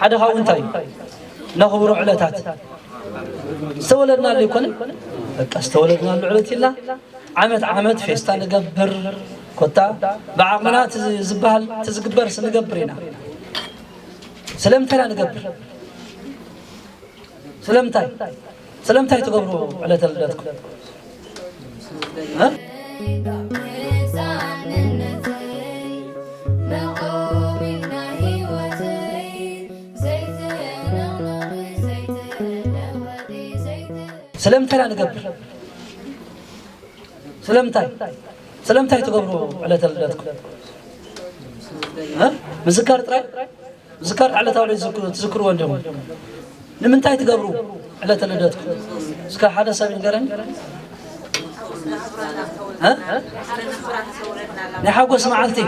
ሓደ ካብኡ እንታይ እዩ ነኽብሮ ዕለታት ዝተወለድናሉ ኣይኮነን በቃ ዝተወለድናሉ ዕለት ኢልና ዓመት ዓመት ፌስታ ንገብር ኮታ ብዓቕምና ዝበሃል ትዝግበር ስንገብር ኢና ስለምንታይ ኢና ንገብር ስለምንታይ ስለምንታይ ትገብሩ ዕለተ ልደትኩም? ስለምንታይ ኢና ንገብር? ስለምንታይ ስለምንታይ ትገብሩ ዕለተ ልደትኩም? ምዝካር ጥራይ ዝከር ዕለታዊ ልደት ዝክ- ትዝክርዎ እንዲኹም ንምንታይ ትገብሩ ዕለተ ልደትኩም እስከ ሓደ ሰብ ይንገረን እ? ናይ ሓጎስ መዓልቲ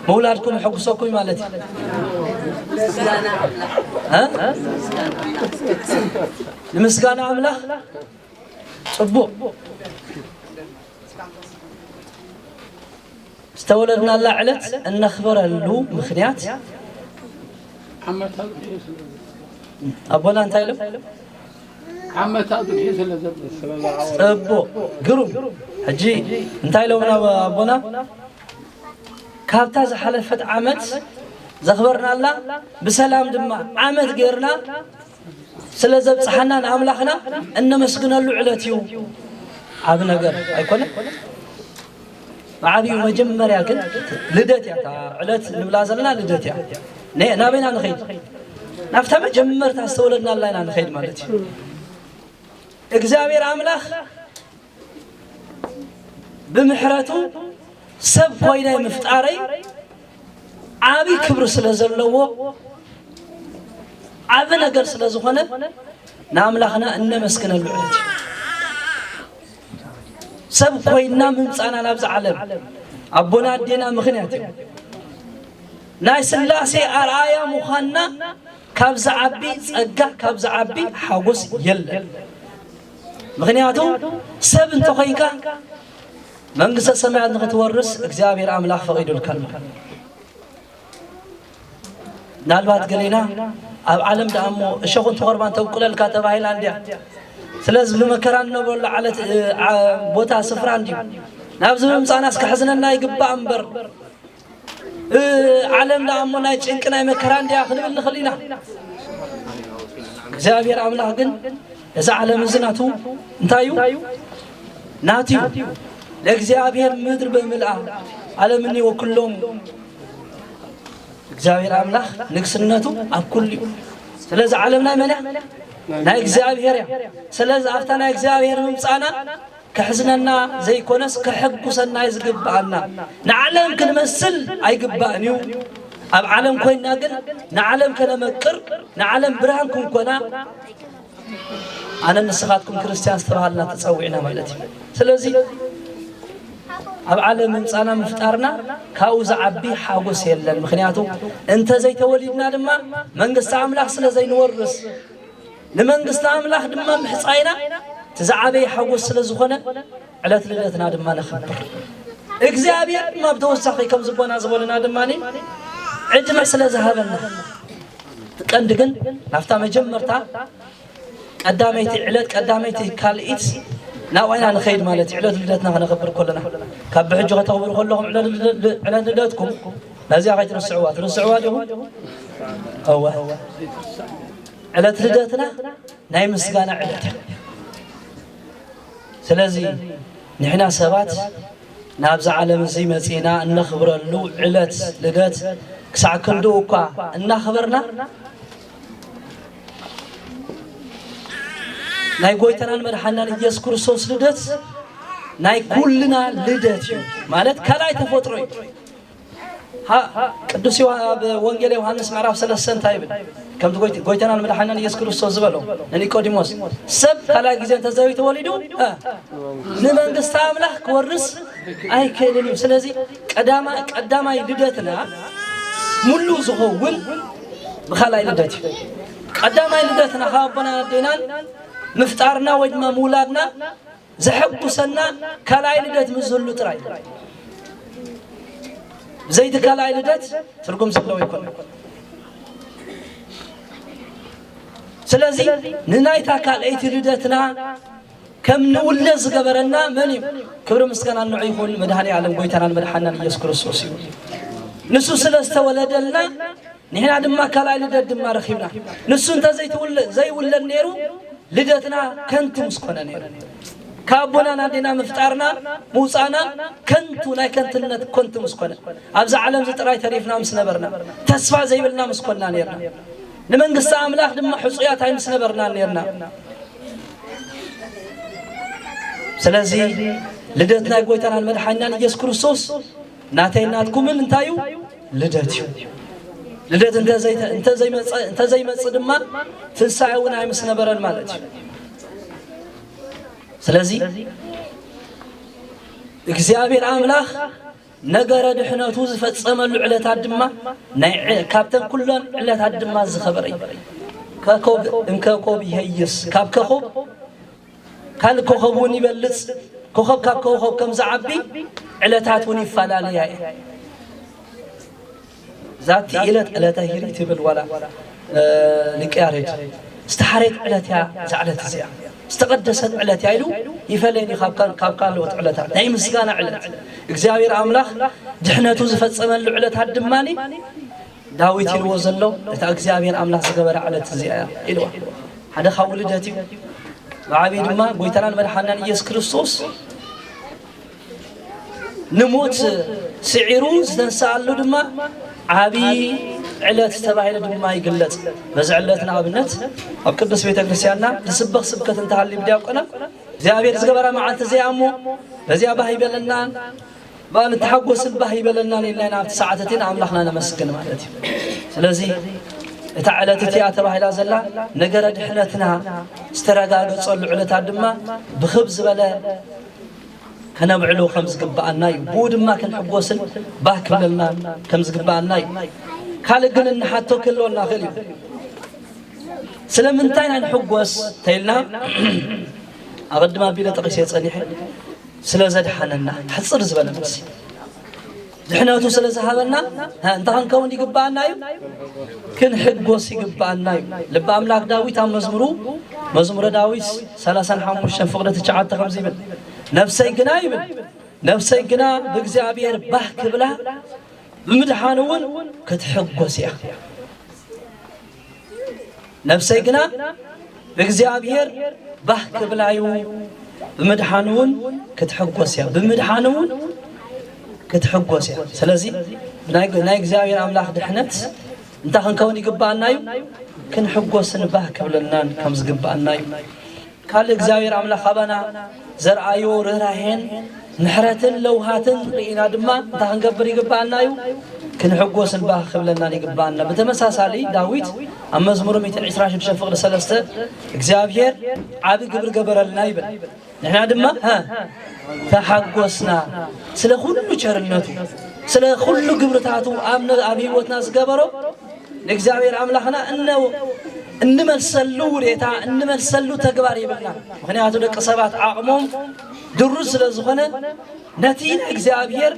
ምውላድኩም ይሕጉሰኩም እዩ ማለት እዩ እ? ንምስጋና ኣምላኽ ፅቡቅ ዝተወለድናላ ዕለት እነኽብረሉ ምኽንያት ዓመታዊ ድሒዙ ስለዘሎ። ኣቦና እንታይ ኢሎም? ዓመታዊ ድሒዙ ስለዘሎ። ጽቡቕ ግሩም። ሕጂ እንታይ ኢሎምና ኣቦና? ካብታ ዝሓለፈት ዓመት ዘኽበርናላ ብሰላም ድማ ዓመት ጌርና ስለ ዘብጽሓና ንኣምላኽና እነመስግነሉ ዕለት እዩ። ዓቢ ነገር ኣይኮነን? ብዓብኡ መጀመርያ ግን ልደት እያ እታ ዕለት ንብላ ዘለና ልደት እያ ነ- ናበይና ንኸይድ ናብታ መጀመርታ ዝተወለድናላ ኢና ንኸይድ ማለት እዩ እግዚኣብሔር ኣምላኽ ብምሕረቱ ሰብ ኮይነ ምፍጣረይ ዓብይ ክብሪ ስለ ዘለዎ ዓብ ነገር ስለ ዝኾነ ንኣምላኽና እነመስግነሉ ዕለት እዩ ሰብ ኮይና ምምፃና ናብዚ ዓለም ኣቦና ኣዴና ምኽንያት እዮም ናይ ስላሴ ኣርኣያ ምዃንና ካብ ዝዓቢ ፀጋ ካብ ዝዓቢ ሓጎስ የለን ምክንያቱ ሰብ እንተኮይንካ መንግስተ ሰማያት ንክትወርስ እግዚኣብሔር ኣምላኽ ፈቒዱልካ ኣሎ ምናልባት ገሊና ኣብ ዓለም ደኣ እሞ እሸኹ እንትቆርባን ተብቁለልካ ተባሂላ እንድያ ስለዚ ብመከራ እንነብረሉ ዓለት ቦታ ስፍራ እንድዩ ናብዚ ብምምፃእናስ ከሕዝነና ይግባእ እምበር ዓለም ደኣ እሞ ናይ ጭንቂ ናይ መከራ እንድያ ክንብል ንኽእል ኢና እግዚኣብሔር ኣምላኽ ግን እዚ ዓለም እዚ ናቱ እንታይ እዩ ናቱ እዩ ለእግዚኣብሔር ምድር በምልኣ ዓለምኒ ወኩሎም እግዚኣብሔር ኣምላኽ ንግስነቱ ኣብ ኩሉ እዩ ስለዚ ዓለም ናይ መን እያ ናይ እግዚኣብሔር እያ ስለዚ ኣብታ ናይ እግዚኣብሔር ምምፃና ከሕዝነና ዘይኮነስ ከሐጉሰና እዩ ዝግብኣና ንዓለም ክንመስል ኣይግባእን እዩ ኣብ ዓለም ኮይና ግን ንዓለም ከነመቅር ንዓለም ብርሃን ክንኮና ኣነን ንስኻትኩም ክርስትያን ዝተባሃልና ተጸዊዕና ማለት እዩ ስለዚ ኣብ ዓለም ምምጻና ምፍጣርና ካብኡ ዝዓቢ ሓጎስ የለን ምክንያቱ እንተዘይተወሊድና ድማ መንግስቲ ኣምላኽ ስለ ዘይንወርስ ንመንግስቲ ኣምላኽ ድማ ምሕጻይና እቲ ዝዓበየ ሓጎስ ስለ ዝኾነ ዕለት ልደትና ድማ ነኽብር። እግዚኣብሔር ድማ ብተወሳኺ ከም ዝጎናዝበሉና ድማ ዕድመ ስለ ዝሃበና እቲ ቀንዲ ግን ናብታ መጀመርታ ቀዳመይቲ ዕለት ቀዳመይቲ ካልኢት ናብኡ ኢና ንኸይድ ማለት እዩ ዕለት ልደትና ክነኽብር ከለና ካብ ብሕጂ ከተኽብሩ ከለኹም ዕለት ልደ- ዕለት ልደትኩም ነዚኣ ከይትርስዕዋ ትርስዕዋ ዲኹም እወ ዕለት ልደትና ናይ ምስጋና ዕለት እዩ ስለዚ ንሕና ሰባት ናብዚ ዓለም እዚ መጺእና እነኽብረሉ ዕለት ልደት ክሳዕ ክንድኡ እኳ እናኽበርና ናይ ጎይታናን መድሓናን ኢየሱስ ክርስቶስ ልደት ናይ ኩልና ልደት እዩ ማለት ካልኣይ ተፈጥሮ እዩ ቅዱስ ኣብ ወንጌል ዮሃንስ ምዕራፍ ሰለስተ እንታይ ይብል? ከምቲ ጎይታናን መድሓናን ኢየሱስ ክርስቶስ ዝበሎ ንኒቆዲሞስ ሰብ ካልኣይ ግዜ እንተዘይተወሊዱ ንመንግስቲ ኣምላኽ ክወርስ ኣይክእልን እዩ። ስለዚ ቀዳማይ ልደትና ሙሉ ዝኸውን ብካልኣይ ልደት እዩ። ቀዳማይ ልደትና ካብ ኣቦና ኣዴናን ምፍጣርና ወይ ድማ ምውላድና ዘሐጉሰና ካልኣይ ልደት ምስ ዝህሉ ጥራይ እዩ። ብዘይቲ ካልኣይ ልደት ትርጉም ዘለዎ ይኮነ። ስለዚ ንናይታ ካልኣይቲ ልደትና ከም ንውለድ ዝገበረና መን እዩ? ክብሪ ምስጋና ንዑ ይኹን መድኃኔ ዓለም ጎይታናን መድሓናን ኢየሱስ ክርስቶስ እዩ። ንሱ ስለ ዝተወለደልና ንሕና ድማ ካልኣይ ልደት ድማ ረኺብና። ንሱ እንተ ዘይውለድ ነይሩ ልደትና ከንቱ ምስ ኮነ ነይሩ። ካብ ኣቦናን ኣዴና ምፍጣርና ምውፃእና ከንቱ ናይ ከንትነት ኮንቱ ምስ ኮነ ኣብዚ ዓለም እዚ ጥራይ ተሪፍና ምስ ነበርና ተስፋ ዘይብልና ምስ ኮና ነርና ንመንግስቲ ኣምላኽ ድማ ሕፁያት ኣይ ምስ ነበርና ነርና ስለዚ ልደት ናይ ጎይታናን መድሓኛን ኢየሱስ ክርስቶስ ናተይን ናትኩምን እንታይ እዩ? ልደት እዩ። ልደት እንተዘይመፅእ ድማ ትንሳኤ እውን ኣይምስነበረን ማለት እዩ። ስለዚ እግዚኣብሔር ኣምላኽ ነገረ ድሕነቱ ዝፈፀመሉ ዕለታት ድማ ካብተን ኩለን ዕለታት ድማ ዝኸበረ እዩ። ከኮብ እንከኮብ ይሄይስ ካብ ከኮብ ካልእ ኮኾብ እውን ይበልጽ፣ ኮኾብ ካብ ኮኾብ ከም ዝዓቢ ዕለታት እውን ይፈላለያ እየን። ዛቲ ዕለት ዕለተ ሂሪ ትብል ዋላ ሊቀ ያሬድ ዝተሓረየት ዕለት እያ እዛ ዕለት እዚኣ ዝተቐደሰት ዕለት እያ ኢሉ ይፈለየኒ ካብ ካልኦት ዕለታት ናይ ምስጋና ዕለት እግዚኣብሔር ኣምላኽ ድሕነቱ ዝፈጸመሉ ዕለታት ድማኒ ዳዊት ኢልዎ ዘሎ እታ እግዚኣብሔር ኣምላኽ ዝገበራ ዕለት እዚኣ እያ ኢልዋ ሓደ ካብ ውልደት እዩ ብዓብዪ ድማ ጎይታናን መድሓናን ኢየሱስ ክርስቶስ ንሞት ስዒሩ ዝተንስኣሉ ድማ ዓብዪ ዕለት ተባሂሉ ድማ ይግለጽ በዚ ዕለት ንኣብነት ኣብ ቅዱስ ቤተ ክርስቲያንና ዝስበኽ ስብከት እንተሃልዩ ብዲያቆና እግዚኣብሔር ዝገበራ መዓልቲ እዚኣ እሞ በዚኣ ባህ ይበለና እባ ንተሓጎስን ባህ ይበለናን ኢልና ኢና ኣብቲ ሰዓት እቲ ንኣምላኽና ነመስግን ማለት እዩ ስለዚ እታ ዕለት እቲኣ ተባሂላ ዘላ ነገረ ድሕነትና ዝተረጋገፀሉ ዕለታት ድማ ብክብ ዝበለ ከነብዕሉ ከም ዝግብኣና እዩ ብኡ ድማ ክንሕጎስን ባህ ክብለልና ከም ዝግብኣና እዩ ካልእ ግን እንሓቶ ክህልወ እናኽእል እዩ ስለምንታይ ኢና ንሕጎስ ተይልና ኣቐድማ ኣቢለ ጠቒሰ ፀኒሐ ስለ ዘድሓነና ሕጽር ዝበለ መልሲ ድሕነቱ ስለ ዝሃበና እንታይ ክንከውን ይግብኣና እዩ ክንሕጎስ ይግብኣና እዩ ልቢ ኣምላክ ዳዊት ኣብ መዝሙሩ መዝሙረ ዳዊት 35 ፍቅዲ ትሽዓተ ከምዚ ይብል ነፍሰይ ግና ይብል ነፍሰይ ግና ብእግዚኣብሔር ባህ ክብላ ብምድሓን እውን ክትሕጎስ እያ ነፍሰይ ግና እግዚኣብሔር ባህ ክብላዩ ብምድሓኑ እውን ክትሕጎስ እያ ብምድሓኑ እውን ክትሕጎስ እያ ስለዚ ናይ እግዚኣብሔር ኣምላኽ ድሕነት እንታይ ክንከውን ይግባኣና እዩ ክንሕጎስን ባህ ክብለናን ከም ዝግባኣና እዩ ካልእ እግዚኣብሔር ኣምላኽ ኣባና ዘርኣዮ ርህራሄን ምሕረትን ለውሃትን ርኢና ድማ እንታይ ክንገብር ይግብኣና እዩ? ክንሕጎስን ባህ ክብለናን ይግብኣና። ብተመሳሳሊ ዳዊት ኣብ መዝሙር 126 ፍቕሪ ሰለስተ እግዚኣብሔር ዓቢ ግብሪ ገበረልና ይብል። ንሕና ድማ ተሓጎስና ስለ ኩሉ ቸርነቱ ስለ ኩሉ ግብርታቱ ኣብ ህይወትና ዝገበሮ ንእግዚኣብሔር ኣምላኽና እንመልሰሉ ውዴታ እንመልሰሉ ተግባር ይብልና ምክንያቱ ደቂ ሰባት ዓቕሞም ድሩ ስለ ዝኾነ ነቲ እግዚኣብሔር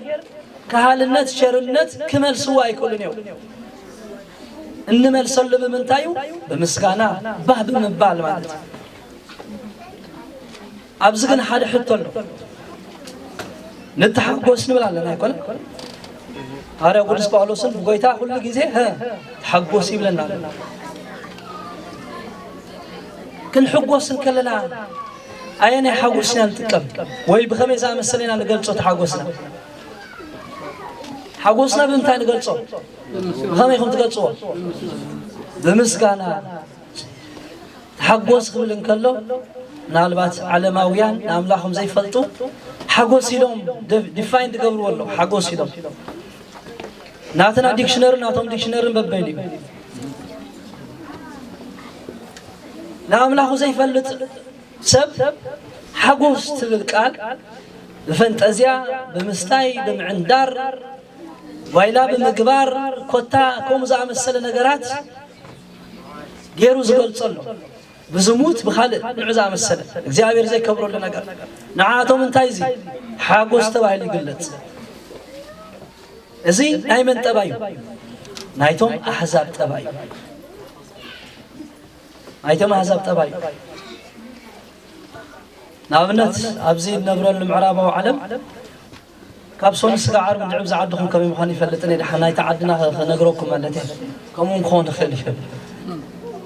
ካህልነት ሸርነት ክመልስዎ ኣይክእሉን እዮም እንመልሰሉ ብምንታዩ ብምስጋና ባህ ብምባል ማለት እዩ ኣብዚ ግን ሓደ ሕቶ ኣሎ ንተሓጎስ ንብል ኣለና ኣይኮነን ሃርያ ቅዱስ ጳውሎስን ጎይታ ኩሉ ግዜ ተሓጎስ ይብለና ኣሎ ክንሕጎስ እንከለና ኣየናይ ሓጎስ ኢና ንጥቀም ወይ ብኸመይ ዝኣመሰለ ኢና ንገልፆ ተሓጎስና ሓጎስና ብምንታይ ንገልፆ ብኸመይ ከም ትገልፅዎ ብምስጋና ሓጎስ ክብል እንከሎ ምናልባት ዓለማውያን ንኣምላኾም ዘይፈልጡ ሓጎስ ኢሎም ዲፋይን ዝገብርዎ ኣሎ ሓጎስ ኢሎም ናትና ዲክሽነሪ ናቶም ዲክሽነርን በበይኑ እዩ ንኣምላኹ ዘይፈልጥ ሰብ ሓጎስ ትብል ቃል ብፈንጠዝያ ብምስታይ ብምዕንዳር ቫይላ ብምግባር ኮታ ከምኡ ዝኣመሰለ ነገራት ጌሩ ዝገልጾ ኣሎ ብዝሙት ብኻልእ ንዑ ዝኣመሰለ እግዚኣብሔር ዘይከብረሉ ነገር ንዓኣቶም እንታይ እዚ ሓጎስ ተባሂሉ ይግለጽ እዚ ናይ መን ጠባይ እዩ ናይቶም ኣሕዛብ ጠባይ እዩ ናይቶም ኣሕዛብ ጠባይ እዩ ንኣብነት ኣብዚ እነብረሉ ምዕራባዊ ዓለም ካብ ሶኑይ ስጋዕ ዓርቢ ድዕብ ዝዓድኹም ከመይ ምዃኑ ኣይፈልጥን እየ ድሓን ናይቲ ዓድና ከ ክነግረኩም ማለት እየ ከምኡ ውን ክኾን ይኽእል እዩ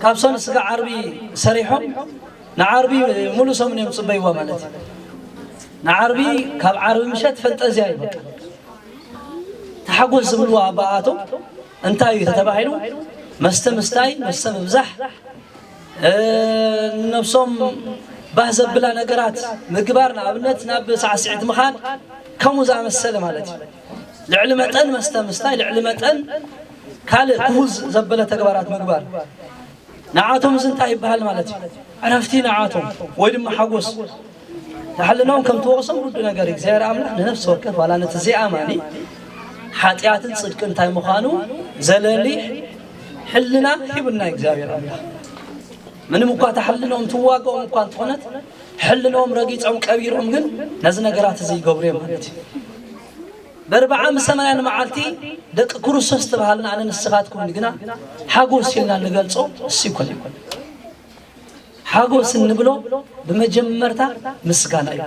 ካብ ሶኑይ ስጋዕ ዓርቢ ሰሪሖም ንዓርቢ ሙሉእ ሰሙን እዮም ጽበይዋ ማለት እዩ ንዓርቢ ካብ ዓርቢ ምሸት ፈንጠዝያ እዩ በቃ ተሓጎስ ዝብልዋ ኣባኣቶም እንታይ እዩ ተተባሂሉ መስተ ምስታይ መስተ ምብዛሕ ንነብሶም ባህ ዘብላ ነገራት ምግባር ንኣብነት ናብ ሳዕስዒት ምኻድ ከምኡ ዝኣመሰለ ማለት እዩ ልዕሊ መጠን መስተ ምስታይ ልዕሊ መጠን ካልእ ክሁዝ ዘበለ ተግባራት ምግባር ንዓቶም እዚ እንታይ ይበሃል ማለት እዩ ዕረፍቲ ንዓቶም ወይ ድማ ሓጎስ ንሕልናኦም ከም ትወቕሶም ርዱእ ነገር እዩ። እግዚኣብሔር ኣምላኽ ንነፍሲ ወከፍ ዋላ ነቲ ዘይኣማኒ ሓጢኣትን ጽድቂ እንታይ ምዃኑ ዘለሊ ሕልና ሂቡና እግዚኣብሔር ኣምላኽ ምንም እኳ እታ ሕልናኦም ትዋግኦም እኳ እንተኾነት ሕልናኦም ረጊጾም ቀቢሮም ግን ነዚ ነገራት እዚ ይገብሩ እዮም ማለት እዩ በርብዓ ምስ ሰማንያን መዓልቲ ደቂ ክርስቶስ ተባሃልና ኣነ ንስኻትኩም ግና ሓጎስ ኢልና ንገልጾ እሱ ይኮነ ሓጎስ እንብሎ ብመጀመርታ ምስጋና እዩ።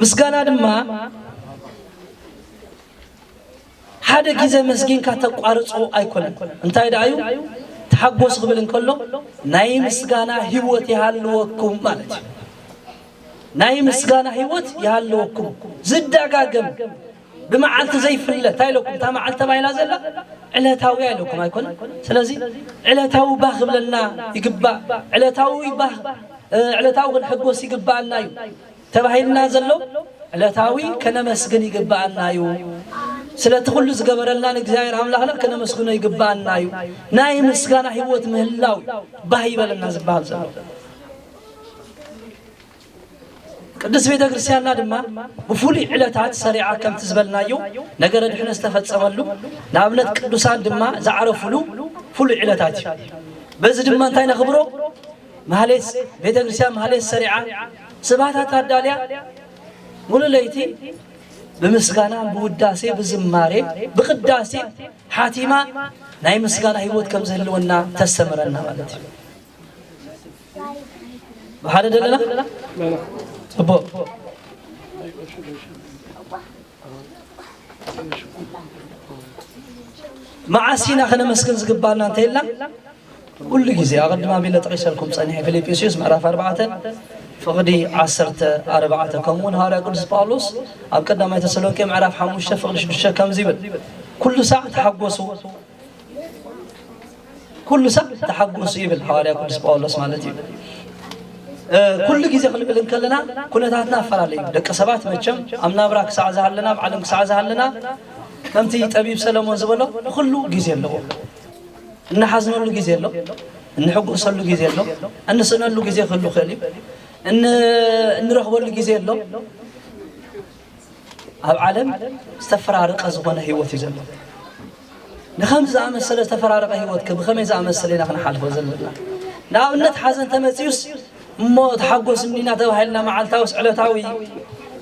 ምስጋና ድማ ሓደ ግዜ መስጊንካ ተቋርጾ ኣይኮነን። እንታይ ደኣ እዩ ተሓጎስ ክብል እንከሎ ናይ ምስጋና ህይወት ይሃልወኩም ማለት እዩ። ናይ ምስጋና ህይወት ይሃልወኩም ዝደጋገም ብመዓልቲ ዘይፍለ እንታይ ኢለኩም እታ መዓልቲ ተባሂላ ዘላ ዕለታውያ ኢለኩም ኣይኮነ ስለዚ ዕለታዊ ባህ ክብለና ይግባእ ዕለታዊ ባህ ዕለታዊ ክንሕጎስ ይግባኣና እዩ ተባሂልና ዘሎ ዕለታዊ ከነመስግን ይግባኣና እዩ ስለቲ ኩሉ ዝገበረልና ንእግዚኣብሔር ኣምላኽና ከነመስግኖ ይግባኣና እዩ ናይ ምስጋና ህይወት ምህላው ባህ ይበለና ዝበሃል ዘሎ ቅድስት ቤተ ክርስቲያንና ድማ ብፍሉይ ዕለታት ሰሪዓ ከምቲ ዝበልናዮ ነገረ ድሕነት ዝተፈጸመሉ ንኣብነት ቅዱሳን ድማ ዝዓረፉሉ ፍሉይ ዕለታት እዩ በዚ ድማ እንታይ ነኽብሮ ማህሌት ቤተ ክርስቲያን ማህሌት ሰሪዓ ስብሃታት ኣዳልያ ሙሉ ለይቲ ብምስጋና ብውዳሴ ብዝማሬ ብቅዳሴ ሓቲማ ናይ ምስጋና ህይወት ከም ዝህልወና ተስተምረና ማለት እዩ ብሓደ ዘለና ፅቡቅ መዓስ ኢና ከነመስግን ዝግባና እንተይልና ኩሉ ግዜ ኣቐድም ኣቢለ ጠቂሰልኩም ፀኒሐ ፊልጵስዩስ ምዕራፍ ኣርባዕተ ፍቕዲ ዓሰርተ ኣርባዕተ ከምኡ እውን ሃዋርያ ቅዱስ ጳውሎስ ኣብ ቀዳማይ ተሰሎንቄ ምዕራፍ ሓሙሽተ ፍቕዲ ሽዱሽተ ከምዚ ይብል ኩሉ ሳዕ ተሓጎሱ ኩሉ ሰብ ተሓጎሱ ይብል ሓዋርያ ቅዱስ ጳውሎስ ማለት እዩ ኩሉ ግዜ ክንብል እንከለና ኩነታትና ኣፈላለዩ ደቂ ሰባት መቸም ኣብ ናብራ ክሳዕ ዝሃለና ኣብ ዓለም ክሳዕ ዝሃለና ከምቲ ጠቢብ ሰለሞን ዝበሎ ንኩሉ ግዜ ኣለዎ እንሓዝነሉ ግዜ ኣሎ እንሕጎሰሉ ግዜ ኣሎ እንስእነሉ ግዜ ክህሉ ክእል እዩ እንረኽበሉ ግዜ ኣሎ ኣብ ዓለም ዝተፈራረቀ ዝኾነ ህይወት እዩ ዘሎ። ንከምዚ ዝኣመሰለ ዝተፈራረቀ ህይወት ከ ብኸመይ ዝኣመሰለ ኢና ክንሓልፎ ዘለና? ንኣብነት ሓዘን ተመፅዩስ እሞ ተሓጎስ እኒና ተባሂልና መዓልታዊስ ዕለታዊ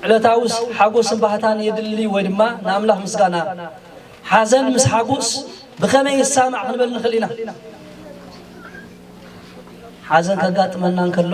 ዕለታዊስ ሓጎስን ባህታን የድሊ ወይ ድማ ንኣምላኽ ምስጋና ሓዘን ምስ ሓጎስ ብኸመይ ይሳማዕ ክንበል ንኽእል ኢና። ሓዘን ከጋጥመና እንከሎ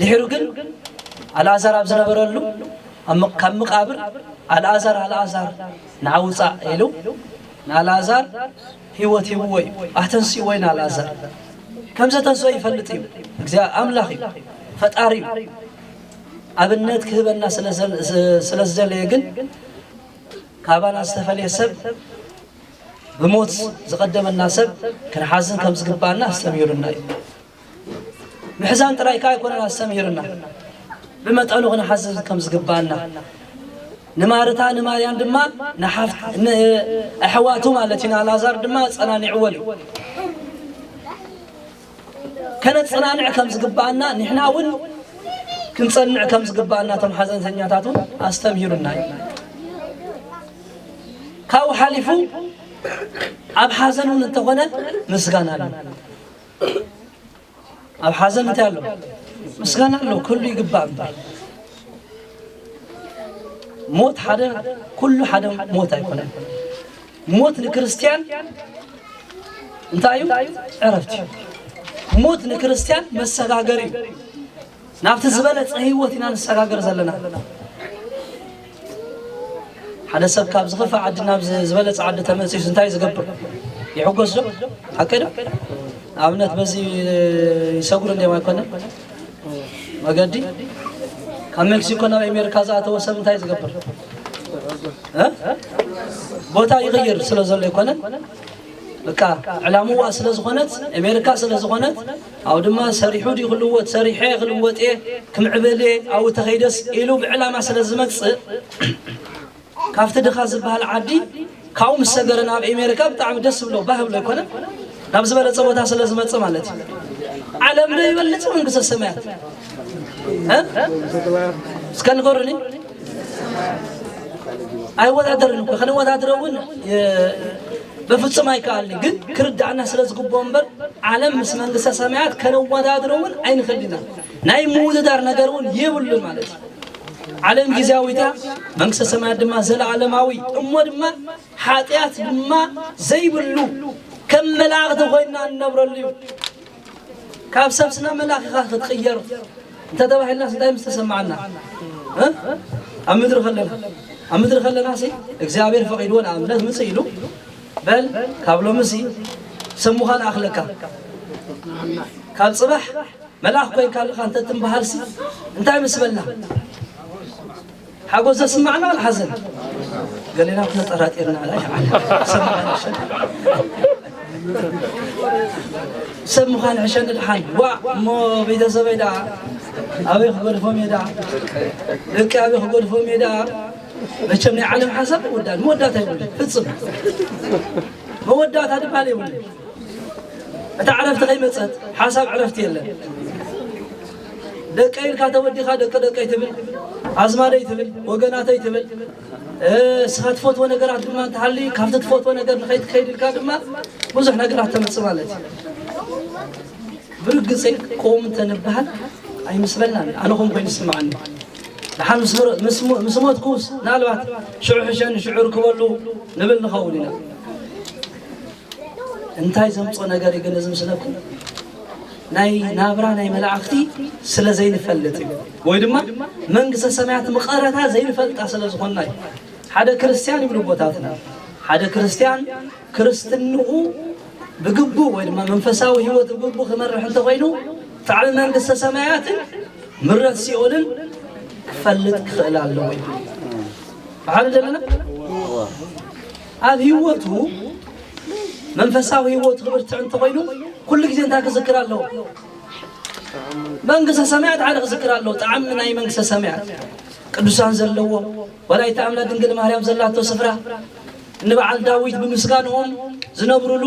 ድሒሩ ግን ኣልኣዛር ኣብ ዝነበረሉ ካብ መቃብር ኣልኣዛር ኣልኣዛር ንዓ ውፃእ ኢሉ ንኣልኣዛር ህይወት ሂብዎ እዩ ኣተንስእዎ እዩ ንኣልኣዛር ከም ዘተንስኦ ይፈልጥ እዩ እግዚኣብ ኣምላኽ እዩ ፈጣሪ እዩ ኣብነት ክህበና ስለ ዝደለየ ግን ካባና ዝተፈለየ ሰብ ብሞት ዝቐደመና ሰብ ክንሓዝን ከም ዝግባእና ኣስተምሂሩና እዩ ምሕዛን ጥራይ ከኣ ኣይኮነን ኣስተምሂሩና፣ ብመጠኑ ክንሓዝን ከም ዝግብኣና፣ ንማርታ ንማርያም ድማ ንሓፍት ንኣሕዋቱ ማለት እዩ ንኣልኣዛር ድማ ኣጸናኒዕዎን እዩ። ከነጸናንዕ ከም ዝግብኣና ንሕና እውን ክንጸንዕ ከም ዝግብኣና እቶም ሓዘንተኛታት እውን ኣስተምሂሩና እዩ። ካብኡ ሓሊፉ ኣብ ሓዘን እውን እንተኾነ ምስጋና ኣሎ። ኣብ ሓዘን እንታይ ኣሎ ምስጋና ኣሎ ኩሉ ይግባእ እምበር ሞት ሓደ ኩሉ ሓደ ሞት ኣይኮነን ሞት ንክርስትያን እንታይ እዩ ዕረፍቲ እዩ ሞት ንክርስትያን መሰጋገሪ እዩ ናብቲ ዝበለጸ ህይወት ኢና ንሰጋገር ዘለና። ሓደ ሰብ ካብ ዝኸፍእ ዓዲ ናብ ዝበለጸ ዓዲ ተመልሲሱ እንታይ ዝገብር ይሕጎስ ዶ? ሓቂ ዶ? ንኣብነት በዚ ይሰጉር እንዲም ኣይኮነ መገዲ ካብ ሜክሲኮ ናብ ኣሜሪካ ዝኣተወ ሰብ እንታይ ዝገብር ቦታ ይቕይር ስለ ዘሎ ይኮነ በቃ ዕላምዋ ስለ ዝኾነት ኣሜሪካ ስለ ዝኾነት ኣብኡ ድማ ሰሪሑ ድዩ ክልወጥ፣ ሰሪሐ ክልወጥ እየ፣ ክምዕብል እየ፣ ኣብኡ ተኸይደስ ኢሉ ብዕላማ ስለ ዝመጽእ ካብቲ ድኻ ዝበሃል ዓዲ ካብኡ ምስ ሰገረ ናብ ኣሜሪካ ብጣዕሚ ደስ ብሎ ባህ ብሎ ኣይኮነን ናብ ዝበለጸ ቦታ ስለ ዝመጽእ ማለት እዩ ዓለም ዶ ይበልጽ መንግስተ ሰማያት እስከ ንገሩኒ ኣይወዳደርን እኮ ከነወዳድረ እውን በፍጹም ኣይከኣልኒ ግን ክርዳእና ስለ ዝግብኦ እምበር ዓለም ምስ መንግስተ ሰማያት ከነወዳድረ እውን ኣይንኽእልና ናይ ምውድዳር ነገር እውን የብሉን ማለት እዩ ዓለም ጊዜያዊት እያ መንግስተ ሰማያት ድማ ዘለዓለማዊ እሞ ድማ ሓጢኣት ድማ ዘይብሉ ከም መላእኽቲ ኮይና እንነብረሉ እዩ ካብ ሰብ ስነ መላኺኻ ክትቕየር እንተተባሂልናስ እንታይ ምስ ተሰማዓና እ? ኣብ ምድሪ ከለና ኣብ ምድሪ ከለና ሲ እግዚኣብሔር ፈቒድዎ ንኣብነት ምፅእ ኢሉ በል ካብ ሎሚ ሲ ሰሙኻ ንኣኽለካ ካብ ፅባሕ መልኣኽ ኮይንካ ኣለኻ እንተትምበሃልሲ እንታይ ምስ በልና ሓጎስ ዘስማዕና ዋላ ሓዘን ገሌና ተጠራጢርና ላ ይዓል ሰብ ምዃን ሕሸኒ ሰብ ምዃን ሕሸኒ ድሓን ዋዕ እሞ ቤተሰበይ ደኣ ኣበይ ክገድፎም እየ ደኣ ደቂ ኣበይ ክገድፎም እየ ደኣ መቸም ናይ ዓለም ሓሳብ ይወዳል መወዳእታ ይብሉ ፍፅም መወዳእታ ድባል ይብሉ እታ ዕረፍቲ ከይመፀት ሓሳብ ዕረፍቲ የለን ደቀይ ኢልካ ተወዲኻ ደቂ ደቀይ ትብል፣ ኣዝማደይ ትብል፣ ወገናተይ ትብል። እስኻ ትፈትዎ ነገራት ድማ እንተሃሊ ካብቲ ትፈትዎ ነገር ንኸይትከይድ ኢልካ ድማ ብዙሕ ነገራት ተምፅእ ማለት እዩ። ብርግፀይ ቆም እንተንበሃል ኣይምስለናን ኣነ ከም ኮይኑ ይስምዓኒ ንሓን ምስ ሞትኩስ ምናልባት ሽዑ ሕሸኒ ሽዑ ርክበሉ ንብል ንኸውን ኢና እንታይ ዘምጾ ነገር እዩ ግን እዚ ምስለኩም ናይ ናብራ ናይ መላእኽቲ ስለ ዘይንፈልጥ እዩ ወይ ድማ መንግስተ ሰማያት ምቐረታ ዘይንፈልጣ ስለ ዝኾና እዩ ሓደ ክርስትያን ይብሉ ቦታትና ሓደ ክርስትያን ክርስትንኡ ብግቡ ወይ ድማ መንፈሳዊ ህይወት ብግቡ ክመርሕ እንተኮይኑ ጣዕሚ መንግስተ ሰማያትን ምረት ሲኦልን ክፈልጥ ክኽእል ኣለዎ እዩ በሓደ ዘለና ኣብ ህይወቱ መንፈሳዊ ህይወቱ ክብርትዕ እንተኾይኑ ኩሉ ግዜ እንታይ ክዝክር ኣለዎ? መንግስተ ሰማያት ሓደ ክዝክር ኣለዎ። ጣዕሚ ናይ መንግስተ ሰማያት ቅዱሳን ዘለዎ ወላዲተ ኣምላክ ድንግል ማርያም ዘላቶ ስፍራ ንበዓል ዳዊት ብምስጋንኦም ዝነብሩሉ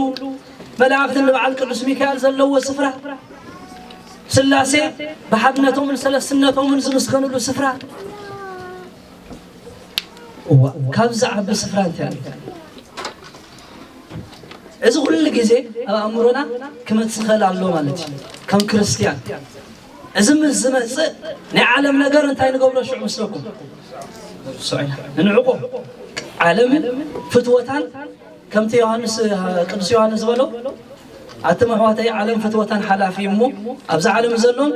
መላእክቲ ንበዓል ቅዱስ ሚካኤል ዘለዎ ስፍራ ስላሴ ብሓድነቶምን ሰለስትነቶምን ዝምስገንሉ ስፍራ እዋእ ካብዚ ዝዓቢ ስፍራ እንታይ ኣሎ? እዚ ኩሉ ግዜ ኣብ ኣእምሮና ክመጽእ ይኽእል ኣሎ ማለት እዩ ከም ክርስትያን እዚ ምስ ዝመጽእ ናይ ዓለም ነገር እንታይ ንገብሮ ሽዑ ምስለኩም ንንዕቆ ዓለምን ፍትወታን ከምቲ ዮሃንስ ቅዱስ ዮሃንስ ዝበሎ ኣቱም ኣሕዋተይ ዓለም ፍትወታን ሓላፊ እዩ እሞ ኣብዛ ዓለም ዘሎን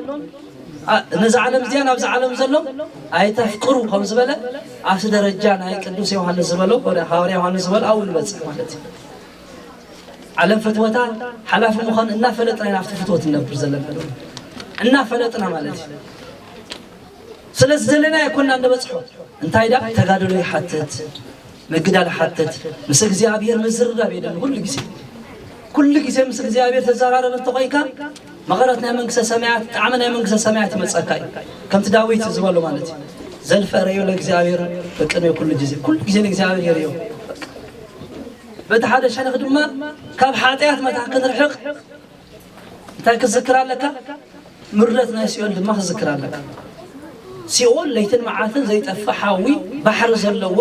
ነዚ ዓለም እዚኣን ኣብዚ ዓለም ዘሎ ኣይተፍቅሩ ከም ዝበለ ኣብቲ ደረጃ ናይ ቅዱስ ዮሃንስ ዝበሎ ሃዋርያ ዮሃንስ ዝበሎ ኣብኡ ንበፅሕ ማለት እዩ ዓለም ፍትወታ ሓላፊ ምዃኑ እናፈለጥና ኢና ኣብቲ ፍትወት ንነብር ዘለና እናፈለጥና ማለት እዩ ስለዚ ዘለና ኣይኮና እንበፅሖ እንታይ ዳ ተጋድሎ ይሓትት ምግዳል ሓተት ምስ እግዚኣብሔር ምዝርራብ የድሊ ኩሉ ግዜ ኩሉ ግዜ ምስ እግዚኣብሔር ተዘራረብ እንተኾይካ መቐረት ናይ መንግስተ ሰማያት ጣዕሚ ናይ መንግስተ ሰማያት ይመፀካ እዩ ከምቲ ዳዊት ዝበሎ ማለት እዩ ዘልፈ ረዮ ለእግዚኣብሔር በቅድሜ ኩሉ ግዜ ኩሉ ግዜ ንእግዚኣብሔር የርዮ በቲ ሓደ ሸነኽ ድማ ካብ ሓጢኣት መታ ክንርሕቕ እንታይ ክትዝክር ኣለካ? ምረት ናይ ሲኦል ድማ ክትዝክር ኣለካ። ሲኦል ለይትን መዓልትን ዘይጠፍእ ሓዊ ባሕሪ ዘለዎ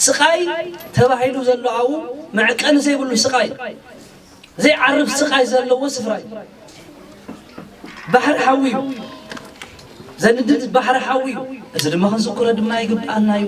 ስቃይ ተባሂሉ ዘሎ ኣብኡ መዕቀኒ ዘይብሉ ስቃይ ዘይዓርፍ ስቃይ ዘለዎ ስፍራ እዩ። ባሕሪ ሓዊ እዩ። ዘንድድ ባሕሪ ሓዊ እዩ። እዚ ድማ ክንዝክሮ ድማ ይግብኣና እዩ።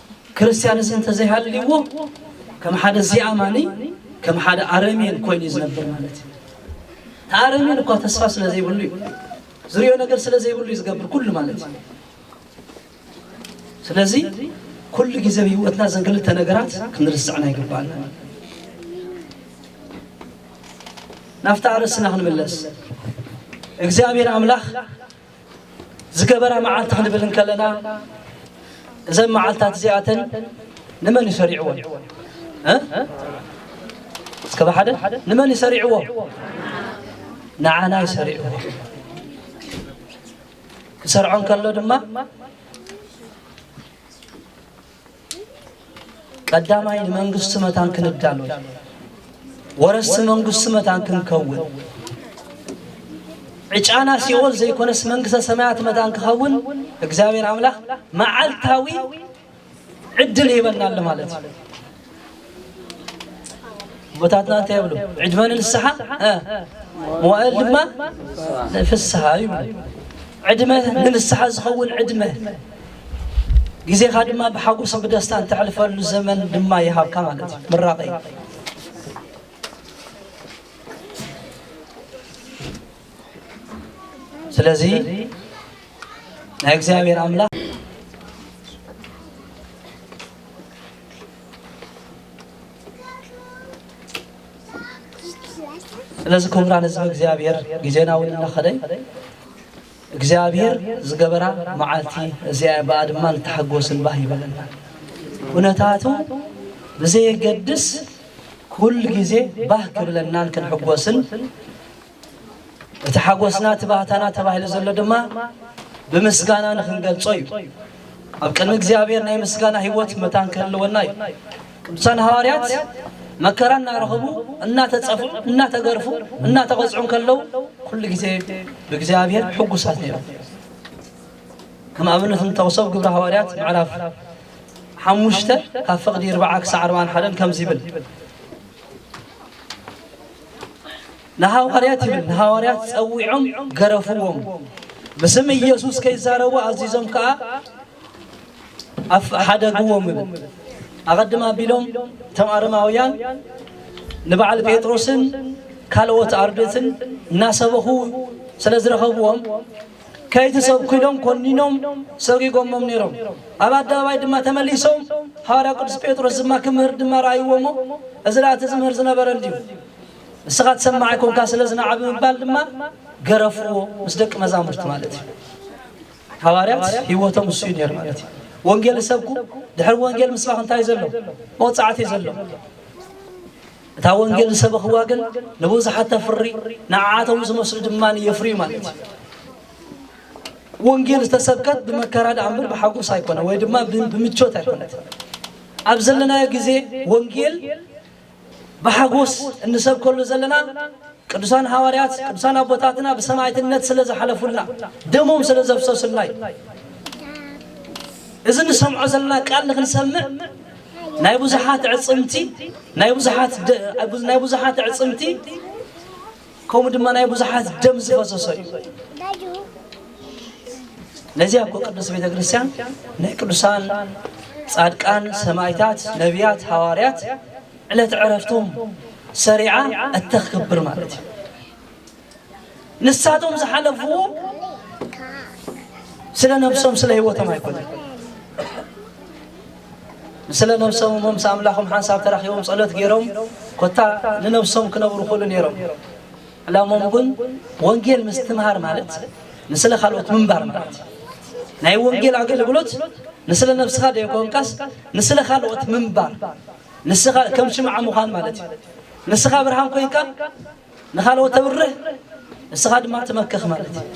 ክርስትያንስ እንተዘይሃልይዎ ከም ሓደ ዘይኣማኒ ከም ሓደ ኣረሜን ኮይኑ እዩ ዝነብር ማለት እዩ ተኣረሜን እኳ ተስፋ ስለ ዘይብሉ እዩ ዝሪኦ ነገር ስለ ዘይብሉ እዩ ዝገብር ኩሉ ማለት እዩ ስለዚ ኩሉ ግዜ ህይወትና ዘን ክልተ ነገራት ክንርስዕና ይግባኣና ናብቲ ኣርእስና ክንምለስ እግዚኣብሔር ኣምላኽ ዝገበራ መዓልቲ ክንብል እንከለና እዘን መዓልታት እዚኣተን ንመን እዩ ሰሪዕዎን እስከ ብሓደ ንመን እዩ ሰሪዕዎ ንዓና እዩ ሰሪዕዎ ክሰርዖ እንከሎ ድማ ቀዳማይ ንመንግስቲ መታን ክንዳሎ ወረስቲ መንግስቲ መታን ክንከውን ዕጫና ሲኦል ዘይኮነስ መንግስተ ሰማያት መታን ክኸውን እግዚኣብሔር ኣምላኽ መዓልታዊ ዕድል ይህበናሉ ማለት እዩ። ኣቦታትና እንታይ ይብሉ ዕድመ ንንስሓ እ፣ መዋእል ድማ ንፍስሃ ይብሉ ዕድመ ንንስሓ ዝኸውን ዕድመ ግዜኻ ድማ ብሓጎስ ብደስታ እተሕልፈሉ ዘመን ድማ ይሃብካ ማለት እዩ ምራቐ እዩ ስለዚ ናይ እግዚኣብሔር ኣምላኽ ስለዚ ክቡራን ህዝቢ እግዚኣብሔር ግዜና እውን እናኸደ እግዚኣብሔር ዝገበራ መዓልቲ እዚኣ በኣ ድማ ንተሓጎስን ባህ ይበለና ኩነታቱ ብዘየገድስ ኩል ግዜ ባህ ክብለናን ክንሕጎስን እቲ ሓጎስና እቲ ባህታና ተባሂሉ ዘሎ ድማ ብምስጋና ንክንገልጾ እዩ። ኣብ ቅድሚ እግዚኣብሔር ናይ ምስጋና ህይወት መታን ክህልወና እዩ። ቅዱሳን ሃዋርያት መከራ እናረኸቡ እናተፀፉ እናተገርፉ እናተቐፅዑ ከለው ኩሉ ግዜ ብእግዚኣብሔር ሕጉሳት ነይሮም። ከም ኣብነት እንጠቕሶ ግብረ ሃዋርያት ምዕራፍ ሓሙሽተ ካብ ፍቕዲ ርብዓ ክሳዕ ኣርባን ሓደን ከምዚ ይብል ንሃዋርያት ይብል ንሃዋርያት ጸዊዖም ገረፍዎም፣ ብስም ኢየሱስ ከይዛረቡ ኣዚዞም ከኣ ኣፍ ሓደግዎም ይብል። ኣቐድም ኣቢሎም እቶም ኣረማውያን ንበዓል ጴጥሮስን ካልኦት ኣርድእትን እናሰበኹ ስለ ዝረኸብዎም ከይትሰብኩ ኢሎም ኮኒኖም ሰጊጎሞም ነይሮም። ኣብ ኣደባባይ ድማ ተመሊሶም ሃዋርያ ቅዱስ ጴጥሮስ ድማ ክምህር ድማ ረኣይዎ እሞ እዚ ደኣ እቲ ዝምህር ዝነበረ እንድዩ ንስኻ ትሰማዕ ኣይኮንካ ስለ ዝናዓ ብምባል ድማ ገረፍዎ ምስ ደቂ መዛሙርቲ ማለት እዩ። ሃዋርያት ህይወቶም እሱ እዩ ነይሩ ማለት እዩ። ወንጌል ሰብኩ ድሕሪ ወንጌል ምስባኽ እንታይ ዘሎ መውፃዕቲ ዘሎ እታ ወንጌል ዝሰበኽዋ ግን ንብዙሓት ተፍሪ፣ ንዓዓቶም ዝመስሉ ድማ የፍርዩ ማለት እዩ። ወንጌል ዝተሰብከት ብመከራ ደኣ እምበር ብሓጎስ ኣይኮነ ወይ ድማ ብምቾት ኣይኮነት። ኣብ ዘለናዮ ግዜ ወንጌል ብሓጎስ እንሰብከሉ ዘለና ቅዱሳን ሃዋርያት ቅዱሳን ኣቦታትና ብሰማዕትነት ስለ ዝሓለፉልና ደሞም ስለ ዘፍሰሱልና እዩ። እዚ ንሰምዖ ዘለና ቃል ንክንሰምዕ ናይ ብዙሓት ኣዕጽምቲ ናይ ብዙሓት ደ- ኣብ ብዙ- ናይ ብዙሓት ኣዕጽምቲ ከምኡ ድማ ናይ ብዙሓት ደም ዝፈሰሶ እዩ ነዚ ኣኮ ቅዱስ ቤተ ክርስቲያን ናይ ቅዱሳን ጻድቃን ሰማይታት ነቢያት ሃዋርያት ዕለት ዕረፍቶም ሰሪዓ እተኽብር ማለት እዩ ንሳቶም ዝሓለፍዎ ስለ ነብሶም ስለ ህይወቶም ኣይኮነን ስለ ነብሶም እሞ ምስ ኣምላኾም ሓንሳብ ተራኺቦም ጸሎት ገይሮም ኮታ ንነብሶም ክነብሩ ክእሉ ነይሮም ዕላሞም ግን ወንጌል ምስትምሃር ማለት ንስለ ካልኦት ምንባር ማለት ናይ ወንጌል ኣገልግሎት ንስለ ነብስኻ ደይኮንካስ ንስለ ካልኦት ምንባር ንስኻ ከም ሽምዓ ምዃን ማለት እዩ ንስኻ ብርሃን ኮይንካ ንኻልኦት ተብርህ ንስኻ ድማ ትመክኽ ማለት እዩ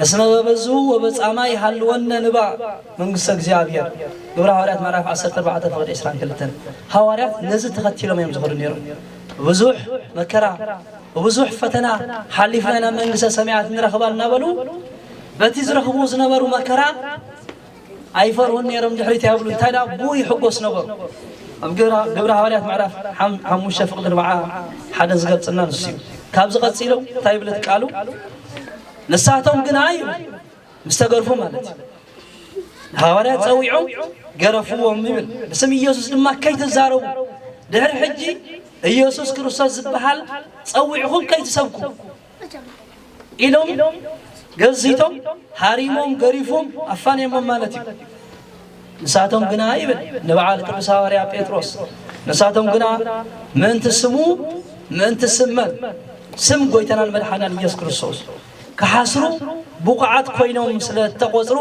እስመ በበዙ ወበጻማ ይሃልወነ ንባ መንግስተ እግዚኣብሔር ግብረ ሃዋርያት ምዕራፍ 14 ፍቅድ 22 ሃዋርያት ነዚ ተኸቲሎም እዮም ዝኸዱ ነይሮም ብብዙሕ መከራ ብብዙሕ ፈተና ሓሊፍና ናብ መንግስተ ሰማያት ንረኽባ እናበሉ በቲ ዝረኽቡ ዝነበሩ መከራ ኣይፈርሁን ነይሮም ድሕሪት ኣይብሉን እንታይ ደኣ ብኡ ይሕጎስ ነበሩ ኣብ ግብረ ሃዋርያት ምዕራፍ ሓሙሽተ ፍቕዲ ኣርብዓ ሓደ ዝገልፅና ንሱ እዩ ካብዚ ቀፂሉ እንታይ ይብለት ቃሉ ንሳቶም ግና እዩ ምስ ተገርፉ ማለት እዩ ሃዋርያት ፀዊዖም ገረፍዎም ይብል ብስም ኢየሱስ ድማ ከይትዛረቡ ድሕሪ ሕጂ ኢየሱስ ክርስቶስ ዝበሃል ፀዊዕኹም ከይትሰብኩ ኢሎም ገዚቶም ሃሪሞም ገሪፎም ኣፋንዮሞም ማለት እዩ ንሳቶም ግና ይብል ንበዓል ቅዱስ ሃዋርያ ጴጥሮስ ንሳቶም ግና ምእንቲ ስሙ ምእንቲ ስመን ስም ጎይታናን መድሓናን ኢየሱስ ክርስቶስ ክሓስሩ ብቑዓት ኮይኖም ስለ እተቖፅሩ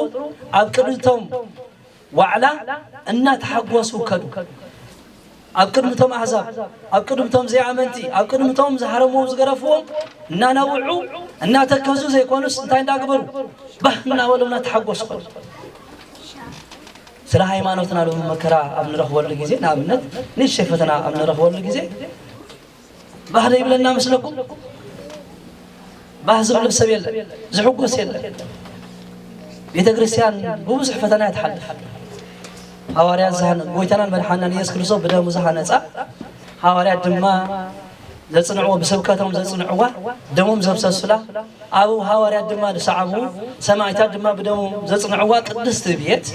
ኣብ ቅድቶም ዋዕላ እናተሓጐሱ ከዱ። ኣብ ቅድሚ እቶም ኣህዛብ፣ ኣብ ቅድሚ እቶም ዘይኣመንቲ፣ ኣብ ቅድሚ እቶም ዝሃረምዎም ዝገረፍዎም እናነብዑ እናተከዙ ዘይኮኑስ እንታይ እንዳግበሩ ባህ እናበሉ እናተሓጐሱ ከዱ። ስለ ሃይማኖትና ሎሚ መከራ ኣብ ንረኽበሉ ግዜ ንኣብነት ንእሽተይ ፈተና ኣብ ንረኽበሉ ግዜ ባህ ዶ ይብለና መስለኩም? ባህ ዝብሎ ሰብ የለን፣ ዝሕጎስ የለን። ቤተ ክርስቲያን ብብዙሕ ፈተና እያ ትሓልፍ። ሃዋርያት ዝሃነ ጎይታናን መድሓናን ኢየሱስ ክርስቶስ ብደሙ ዝሃነፃ ሃዋርያት ድማ ዘጽንዕዎ ብስብከቶም ዘጽንዕዋ ደሞም ዘፍሰሱላ ኣብኡ ሃዋርያት ድማ ዝሰዓቡ ሰማዕታት ድማ ብደሞም ዘጽንዕዋ ቅድስቲ ቤት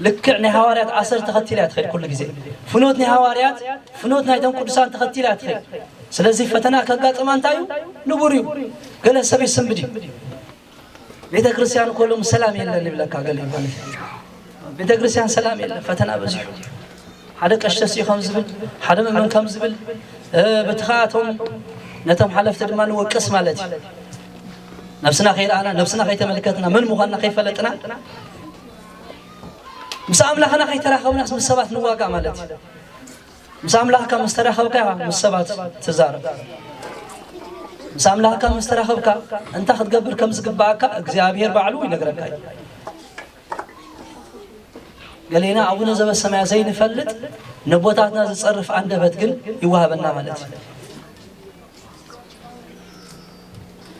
ልክዕ ናይ ሃዋርያት ኣሰር ተኸቲላ እያ ትኸይድ ኩሉ ግዜ ፍኖት ናይ ሃዋርያት ፍኖት ናይቶም ቅዱሳን ተኸቲላ እያ ትኸይድ ስለዚ ፈተና ከጋጥማ እንታይ እዩ ንቡር እዩ ገለ ሰብ ይስንብድ እዩ ቤተ ክርስቲያን እኮ ሎም ሰላም የለን ይብለካ ገለ እዩ ማለት እዩ ቤተ ክርስቲያን ሰላም የለን ፈተና በዚሑ ሓደ ቀሽተስ እዩ ከም ዝብል ሓደ መመን ከም ዝብል እ፣ በቲ ከዓ እቶም ነቶም ሓለፍቲ ድማ ንወቅስ ማለት እዩ ነብስና ከይረኣና ነብስና ከይተመልከትና መን ምዃንና ከይፈለጥና ምስ ኣምላኽና ከይተራኸብናስ ምስ ሰባት ንዋጋእ ማለት እዩ ምስ ኣምላኽካ ምስ ተራኸብካ ምስ ሰባት ትዛረብ ምስ ኣምላኽካ ምስ ተራኸብካ እንታይ ክትገብር ከም ዝግባኣካ እግዚኣብሄር ባዕሉ ይነግረካ እዩ ገሌና ኣቡነ ዘበሰማያ ዘይንፈልጥ ነቦታትና ዝፀርፍ ኣንደበት ግን ይዋሃበና ማለት እዩ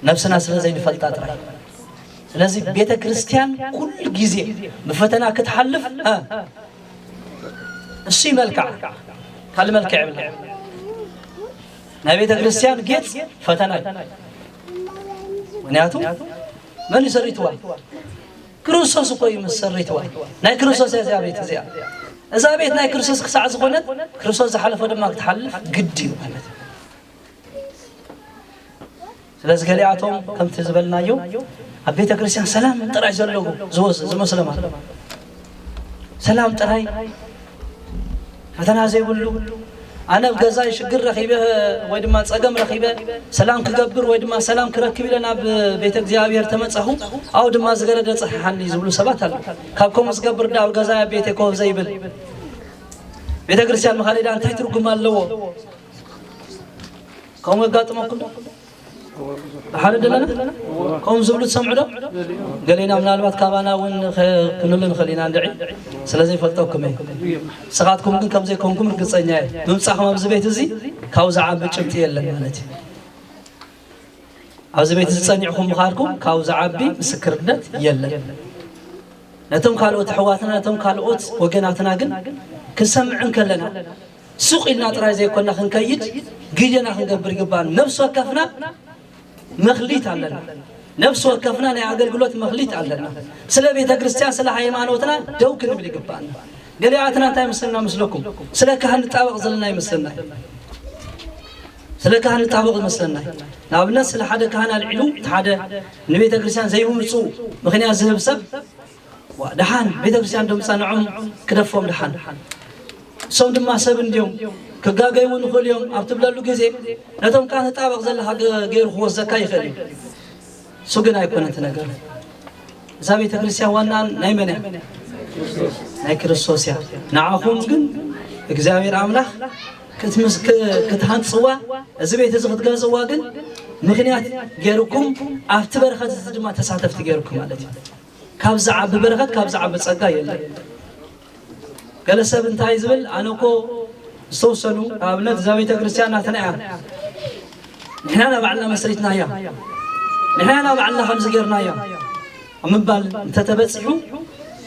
ነብስና ስለ ዘይንፈልጣ ጥራይ ስለዚ ቤተ ክርስቲያን ኩሉ ግዜ ብፈተና ክትሓልፍ እሱ መልክዓ ካልእ መልክዕ የብላ ናይ ቤተ ክርስቲያን ጌፅ ፈተና እዩ ምክንያቱ መን እዩ ሰሪትዋ ክርስቶስ እኮ እዩ ምስ ሰሪትዋ ናይ ክርስቶስ እያ እዚኣ ቤት እዚኣ እዛ ቤት ናይ ክርስቶስ ክሳዕ ዝኾነት ክርስቶስ ዝሓለፈ ድማ ክትሓልፍ ግድ እዩ ማለት እዩ ስለዚ ገሊኣቶም ከምቲ ዝበልናዮ ኣብ ቤተ ክርስቲያን ሰላም ጥራይ ዘለዎ ዝመስሎም ኣሎ ሰላም ጥራይ ፈተና ዘይብሉ ኣነ ኣብ ገዛይ ሽግር ረኺበ ወይ ድማ ፀገም ረኺበ ሰላም ክገብር ወይ ድማ ሰላም ክረክብ ኢለ ናብ ቤተ እግዚኣብሔር ተመፃኹ ኣብኡ ድማ ዝገረደ ፀሓሓኒ ዝብሉ ሰባት ኣሎ ካብ ከምኡ ዝገብር ዳ ኣብ ገዛይ ኣብ ቤተ ኮፍ ዘይብል ቤተ ክርስቲያን ምኻደዳ እንታይ ትርጉም ኣለዎ ከምኡ የጋጥመኩም ብሓደ ደለና ከምኡ ዝብሉ ትሰምዑ ዶ ገሌና ምናልባት ካባና እውን ክንሉ ንኽእል ኢና እንድዒ ስለዘይፈልጠኩም እየ ንስኻትኩም ግን ከምዘይኮንኩም ርግፀኛ እየ ምምፃእኹም ኣብዚ ቤት እዚ ካብኡ ዝዓቢ ጭብጢ የለን ማለት እዩ ኣብዚ ቤት እዚ ፀኒዕኹም ምኻድኩም ካብኡ ዝዓቢ ምስክርነት የለን ነቶም ካልኦት ኣሕዋትና ነቶም ካልኦት ወገናትና ግን ክንሰምዕ እንከለና ሱቕ ኢልና ጥራይ ዘይኮና ክንከይድ ግዴና ክንገብር ይግባን ነብሲ ወከፍና መክሊት ኣለና ነብሲ ወከፍና ናይ ኣገልግሎት መክሊት ኣለና ስለ ቤተ ክርስቲያን ስለ ሃይማኖትና ደው ክንብል ይግባና ገሊኣትና እንታይ ይመስለና ምስለኩም ስለ ካህን ንጣበቕ ዘለና ይመስለና ስለ ካህን ንጣበቕ ይመስለና ንኣብነት ስለ ሓደ ካህን ኣልዒሉ ሓደ ንቤተ ክርስቲያን ዘይምምፁ ምክንያት ዝህብ ሰብ ዋእ ደሓን ቤተክርስትያን ዶ ምጸንዖም ክደፎም ደሓን እሶም ድማ ሰብ እንድዮም ክጋገዩ እውን ይኽእሉ እዮም ኣብ ትብለሉ ግዜ ነቶም ከኣ ተጣበቕ ዘለካ ገይሩ ክወስዘካ ይኽእል እዩ እሱ ግን ኣይኮነን እቲ ነገር እዛ ቤተ ክርስቲያን ዋናን ናይ መን እያ ናይ ክርስቶስ እያ ንዓኹም ግን እግዚኣብሔር ኣምላኽ ክትሃንፅዋ እዚ ቤት እዚ ክትገዝእዋ ግን ምክንያት ገይርኩም ኣብቲ በረኸት እዚ ድማ ተሳተፍቲ ገይርኩም ማለት እዩ ካብ ዝዓቢ በረኸት ካብ ዝዓቢ ጸጋ የለን። ገለ ሰብ እንታይ ዝብል ኣነ እኮ ዝተወሰኑ ንኣብነት እዛ ቤተ ክርስቲያን ናትና እያ ንሕና ናባዕልና መስሪትና እያ ንሕና ናባዕልና ከምዚ ጌርና እያ ኣብ ምባል እንተተበፂሑ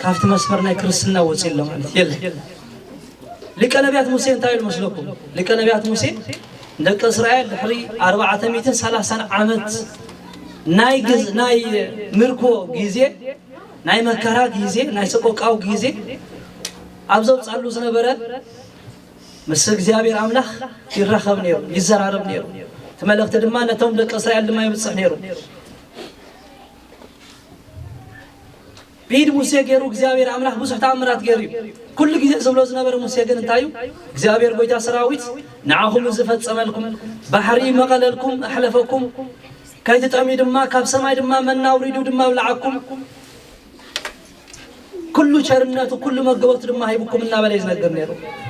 ካብቲ መስመር ናይ ክርስትና ወፂ ኣሎ ማለት የለ ሊቀ ነቢያት ሙሴ እንታይ ኢሉ መስለኩም ሊቀ ነቢያት ሙሴ ደቂ እስራኤል ድሕሪ ኣርባዕተ ሚእትን ሰላሳን ዓመት ናይ ግዝ ናይ ምርኮ ግዜ ናይ መከራ ግዜ ናይ ሰቆቃው ግዜ ኣብ ዘውጻሉ ዝነበረ ምስ እግዚኣብሔር ኣምላኽ ይራኸብ ነይሩ ይዘራረብ ነይሩ እቲ መልእኽቲ ድማ ነቶም ደቂ እስራኤል ድማ ይብጽሕ ነይሩ ብኢድ ሙሴ ገይሩ እግዚኣብሄር ኣምላኽ ብዙሕ ተኣምራት ገይሩ እዩ። ኩሉ ግዜ ዝብሎ ዝነበረ ሙሴ ግን እንታይ እዩ? እግዚኣብሄር ጎይታ ሰራዊት ንዓኹም እዚ ፈጸመልኩም፣ ባሕሪ መቐለልኩም፣ ኣሕለፈኩም፣ ከይትጠምዩ ድማ ካብ ሰማይ ድማ መና ኣውሪዱ ድማ ኣብልዓኩም፣ ኩሉ ቸርነቱ ኩሉ መገቦቱ ድማ ሂብኩም እናበለ እዩ ዝነግር ነይሩ።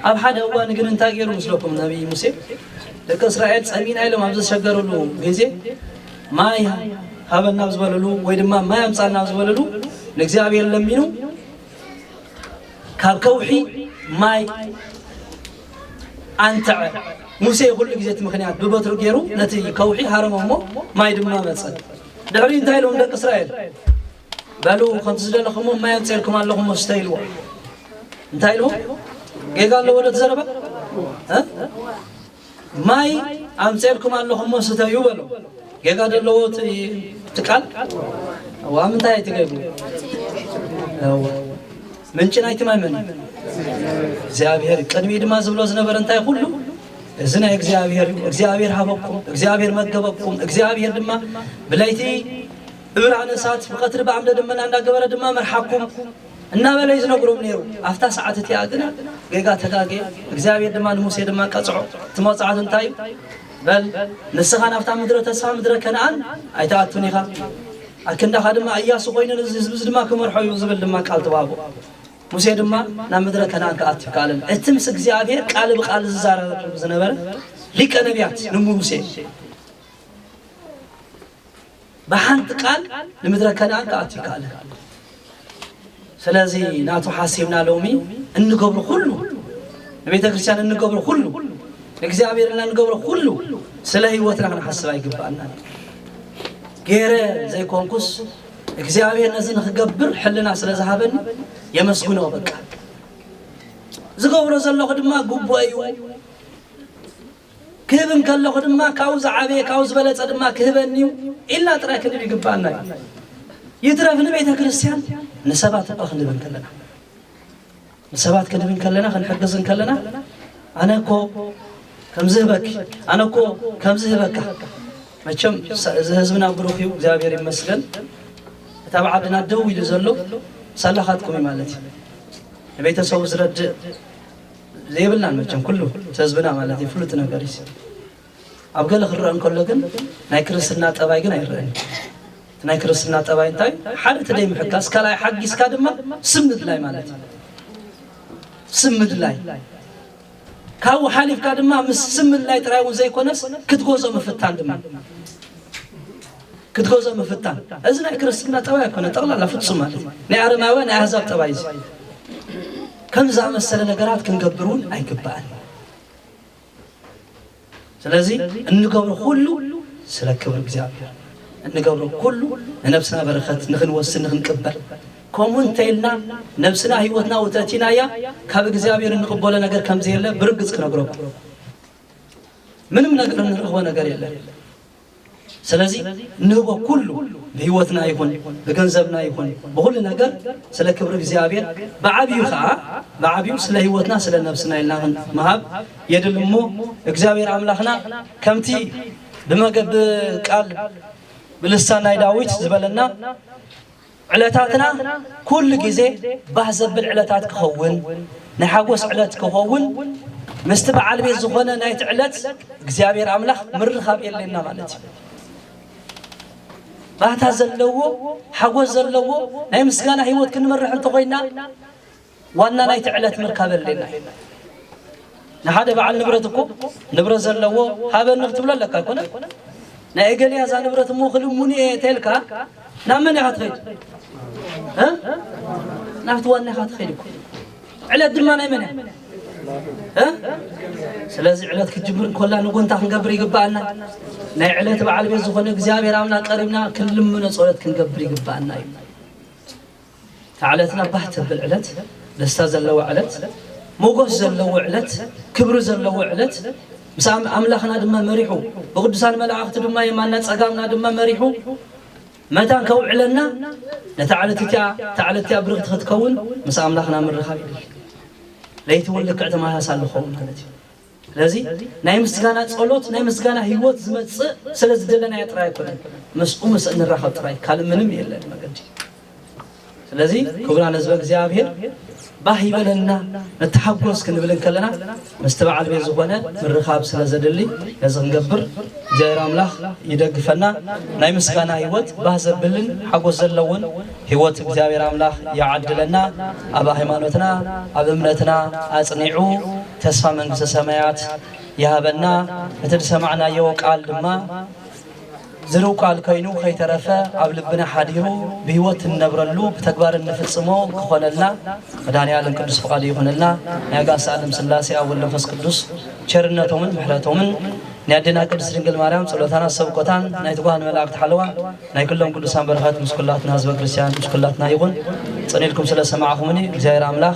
ኣብ ሓደ እዋን ግን እንታይ ገይሩ ምስለኩም ነቢይ ሙሴ ደቂ እስራኤል ጸሚእና ኢሎም ኣብ ዘሸገርሉ ግዜ ማይ ሃበና ኣብ ዝበለሉ ወይ ድማ ማይ ኣምፃና ኣብ ዝበለሉ ንእግዚኣብሔር ለሚኑ ካብ ከውሒ ማይ ኣንተዐ ሙሴ ኩሉ ግዜ እቲ ምክንያት ብበትሩ ገይሩ ነቲ ከውሒ ሃረሞ እሞ ማይ ድማ መፀ ድሕሪ እንታይ ኢሎም ደቂ እስራኤል በሉ ከምቲ ዝደለኹሞ ማይ ኣምፀልኩም ኣለኹም መስተ ኢልዎ እንታይ ኢልዎ ጌጋ ኣለዎ ዶ ተዘረባ ማይ ኣምጼልኩም ኣለኹ እሞ ስተዩ በሎም። ጌጋ ዶ ኣለዎ እቲ እቲ ቃል? እዋ ኣብ ምንታይ እዩ ትገቡ? እዋ ምንጪ ናይቲ ማይ መን እዩ? እግዚኣብሔር እዩ። ቅድሚ ድማ ዝብሎ ዝነበረ እንታይ ኩሉ እዚ ናይ እግዚኣብሔር እዩ። እግዚኣብሔር ሃበኩም፣ እግዚኣብሔር መገበኩም፣ እግዚኣብሔር ድማ ብለይቲ ብብርሃን እሳት ብቐትሪ ብዓምደ ደመና እንዳገበረ ድማ መርሓኩም። እናበለ እዩ ዝነግሮም ነይሩ። ኣብታ ሰዓት እቲኣ ግን ጌጋ ተጋጌ፣ እግዚኣብሔር ድማ ንሙሴ ድማ ቀጽዖ። እቲ መቕጻዕቲ እንታይ እዩ? በል ንስኻ ናብታ ምድረ ተስፋ ምድረ ከነኣን ኣይትኣቱን ኢኻ፣ ኣክንዳኻ ድማ እያሱ ኮይኑ እዚ ህዝቢ እዚ ድማ ክመርሖ እዩ ዝብል ድማ ቃል ተዋህቦ። ሙሴ ድማ ናብ ምድረ ከነኣን ክኣቱ ይከኣለን። እቲ ምስ እግዚኣብሔር ቃል ብቃል ዝዛረበሉ ዝነበረ ሊቀ ነቢያት ንሙሴ ብሓንቲ ቃል ንምድረ ከነኣን ክኣቱ ይከኣል ኣሎ። ስለዚ ናቱ ሓሲብና ሎሚ እንገብሮ ኩሉ ንቤተ ክርስቲያን እንገብሮ ኩሉ ንእግዚኣብሔር እና እንገብሮ ኩሉ ስለ ህይወትና ክንሓስብ ኣይግባኣና ገይረ ዘይኮንኩስ እግዚኣብሔር ነዚ ንክገብር ሕልና ስለ ዝሃበኒ የመስግኖ በቃ ዝገብሮ ዘለኹ ድማ ግቡእ እዩ ክህብ እንከለኹ ድማ ካብኡ ዝዓበየ ካብኡ ዝበለጸ ድማ ክህበኒ እዩ ኢልና ጥራይ ክንብል ይግብኣና እዩ። ይትረፍ ንቤተ ክርስቲያን ንሰባት እኳ ክንህብ እንከለና ንሰባት ክንህብ እንከለና ክንሕግዝ እንከለና ኣነ እኮ ከምዚ ህበኪ ኣነ እኮ ከምዚ ህበካ መቸም እዚ ህዝብና ብሩኽ እዩ እግዚኣብሔር ይመስገን እቲ ኣብ ዓድና ደው ኢሉ ዘሎ ሳላኻትኩም እዩ ማለት እዩ ንቤተሰቡ ዝረድእ ዘይብልናን መቸም ኩሉ ተዝብና ማለት እዩ ፍሉጥ ነገር እዩ ኣብ ገለ ክረአ እንከሎ ግን ናይ ክርስትና ጠባይ ግን ኣይረአን ናይ ክርስትና ጠባይ እንታይ ሓደ ተደይ ምሕጋስ ካልኣይ ሓጊስካ ድማ ስም ምድላይ ማለት እዩ ስም ምድላይ ካብኡ ሓሊፍካ ድማ ምስ ስም ምድላይ ጥራይ እውን ዘይኮነስ ክትጎዞ ምፍታን ድማ ክትገዝኦ ምፍታን እዚ ናይ ክርስትና ጠባይ ኣይኮነን፣ ጠቕላላ ፍጹም ማለት እዩ። ናይ ኣረማውያን ናይ ኣህዛብ ጠባይ እዚ ከምዚ ዝኣመሰለ ነገራት ክንገብር እውን ኣይግባእን እዩ። ስለዚ እንገብሮ ኩሉ ስለ ክብሪ እግዚኣብሔር እንገብሮ ኩሉ ንነብስና በረኸት ንክንወስድ ንክንቅበል ከምኡ እንተኢልና ነብስና ህይወትና ውተእቲናያ ካብ እግዚኣብሔር እንቕበሎ ነገር ከምዘየለ ብርግጽ ክነግረኩም ምንም ነገር እንረኽቦ ነገር የለን። ስለዚ እንህቦ ኩሉ ብህይወትና ይኹን ብገንዘብና ይኹን ብኹሉ ነገር ስለ ክብሪ እግዚኣብሔር ብዓብዩ ከዓ ብዓብዩ ስለ ህይወትና ስለ ነብስና ኢልና ክንመሃብ የድሊ እሞ እግዚኣብሔር ኣምላኽና ከምቲ ብመገብ ቃል ብልሳን ናይ ዳዊት ዝበለና ዕለታትና ኩሉ ግዜ ባህ ዘብል ዕለታት ክኸውን ናይ ሓጎስ ዕለት ክኸውን ምስቲ በዓል ቤት ዝኾነ ናይቲ ዕለት እግዚኣብሔር ኣምላኽ ምርኻብ የድልየና ማለት እዩ። ባህታ ዘለዎ ሓጎስ ዘለዎ ናይ ምስጋና ህይወት ክንመርሕ እንተኾይና ዋና ናይቲ ዕለት ምርካብ የድልየና እዩ። ንሓደ በዓል ንብረት እኮ ንብረት ዘለዎ ሃበኒ ክትብሎ ኣለካ ኣይኮነን። ናይ እገሌ እያ እዛ ንብረት እሞ ክልሙኒ እየ እንተልካ ናብ መን ኢኻ ትኸይድ? ናብቲ ዋና ኢኻ ትኸይድ እኮ ዕለት ድማ ናይ መን እያ? ስለዚ ዕለት ክትጅምር እንኮላ ንጎንታ ክንገብር ይግባኣና ናይ ዕለት በዓል ቤት ዝኾነ እግዚኣብሔር ኣምና ቀሪብና ክንልምኖ ፀሎት ክንገብር ይግባኣና እዩ እታ ዕለትና ባህ ተብል ዕለት ደስታ ዘለዋ ዕለት ሞጎስ ዘለዎ ዕለት ክብሪ ዘለዎ ዕለት ምስ ኣምላኽና ድማ መሪሑ ብቅዱሳን መላእኽቲ ድማ የማና ጸጋምና ድማ መሪሑ መታን ከውዕለና ነታ ዕለት እቲኣ እታ ዕለት እቲኣ ብርኽቲ ክትከውን ምስ ኣምላኽና ምርኻብ ይድሊ ለይቲ እውን ልክዕ ተመሳሳሊ ክኸውን ማለት እዩ ስለዚ ናይ ምስጋና ጸሎት ናይ ምስጋና ህይወት ዝመጽእ ስለ ዝደለናዮ ጥራይ ኣይኮነን፣ ምስኡ ምስ እንራኸብ ጥራይ ካልእ ምንም የለን መገዲ። ስለዚ ክቡራን ህዝበ እግዚኣብሔር ባህ ይበለና ንተሓጎስ ክንብል እንከለና ምስቲ በዓል ቤት ዝኾነ ምርኻብ ስለ ዘድሊ ነዚ ክንገብር እግዚኣብሔር ኣምላኽ ይደግፈና። ናይ ምስጋና ህይወት ባህ ዘብልን ሓጎስ ዘለውን ህይወት እግዚኣብሔር ኣምላኽ ይዓድለና። ኣብ ሃይማኖትና ኣብ እምነትና ኣጽኒዑ ተስፋ መንግስተ ሰማያት ይሃበና እቲ ዝሰማዕናዮ ቃል ድማ ዝርው ቃል ኮይኑ ከይተረፈ ኣብ ልብና ሓዲሩ ብህይወት እንነብረሉ ብተግባር እንፍጽሞ ክኾነልና መድኃኔዓለም ቅዱስ ፍቃዱ ይኹነልና። ናይ ኣጋዕዝተ ዓለም ሥላሴ ኣብ ወልድ መንፈስ ቅዱስ ቸርነቶምን ምሕረቶምን ናይ ኣዴና ቅድስት ድንግል ማርያም ጸሎታና ሰብኮታን ናይ ትጉሃን መላእክት ሓለዋ ናይ ኩሎም ቅዱሳን በረኸት ምስ ኩላትና ህዝበ ክርስቲያን ምስ ኩላትና ይኹን። ጽን ኢልኩም ስለ ሰማዕኹምኒ እግዚኣብሔር ኣምላኽ